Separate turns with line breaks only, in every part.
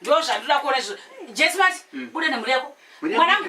ndozvandinoda kuona izvo jesu mati mm. buda nemhuri yako mwanangu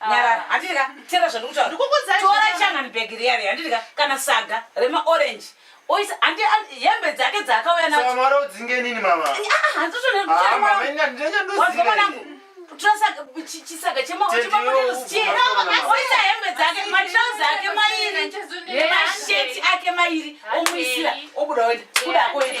nyarara ah. handiti ka tera zvandikutauratora changani bhegi riya riya handiti ka kana saga remaorange oisa handi hembe dzake dzaakauya naomara udzinge nini mamaandinyandozimwanangu chisaga chemaoisa hembe dzake matrauzi ake mairi masheti ake mairi omuisira obuda oenda kuda akoenda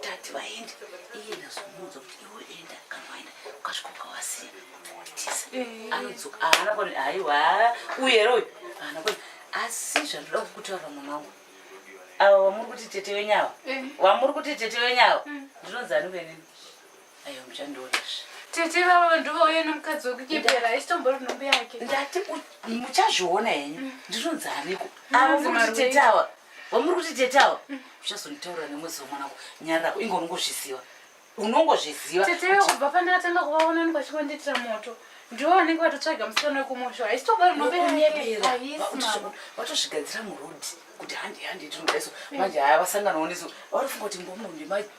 tati vaende iye ndazomuudza kuti iwe enda kana waenda ukasvika ukawasiya unoitisa eh. anodzoka haana koni haiwa uye here uyu haana koni asi zvandoda kukutaura mwana wangu ava vamuri kuti tete wenyu ava eh. vamuri kuti tete wenyu ava hmm. ndinonzi ani kuenini Ayo muchandiona zve. Tete vavo ndovauya nomukadzi wekunyepera haisitombori nhumbu yake. Ndati muchazviona henyu mm. ndinonzi aniko avo muri kuti tete awa vamuri kuti tete awa mm. uchazonditaurira nemwedzi wemwanako nyara rako ingo unongozviziva unongozviziva tete kubva pandakatanga kuvaona niko chikondiitira moto ndiwo vanenge vatotsvaga musikana wekumusho haisitombori nhumbu yakevatozvigadzira murodi kuti handi handi tinodaiso mm. manje haya vasanganawo neso vanofunga kuti mbomunhu ndimai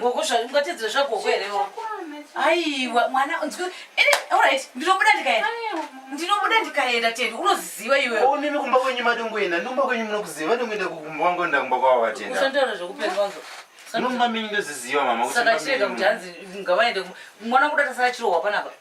gogo zvaungatedzera zvagogo here aiwa mwana orit ndinobuda ndikaenda ndinobuda ndikaenda tedi unoziva iweonimi kumba kwenyu madongoenda nomba kwenyu munokuziva vadongoenda kukumba wangoenda kumba kwavo vatendausataura zvekupenyu wangu nomba menyu ndoziziva mama saka chirega kuti hanzi ngavaende mwana kuda tasara chirohwa panapa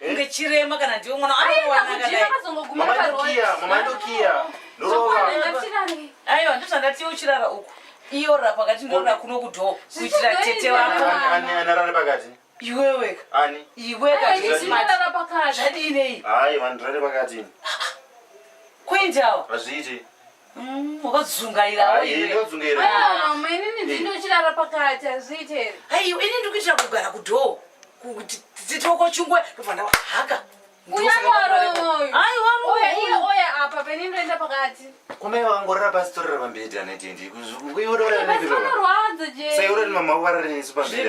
unge chirema kana ndiwe mwana aiwa ndozvandatie uchirara uku iyo ra pakati ndora kuno kudhoo kuitira tete wako iweweka iwekazvadii nei kuendawo hazviiti unodzungairawo inini ndindochirara pakati hazviite here aiwa ini ndiri kuitira kugara kudhoo kuti titoko chingwe ndobva ndawa haka kumai vangorara pasi torera pambedi anaitendi kuiororaaaiororani mama uvararenisu pambedi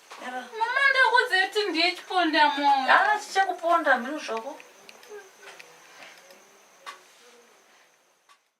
Mama ndakuudza kuti ndiye chiponda moyo. Ah, chichakuponda mhino zvako.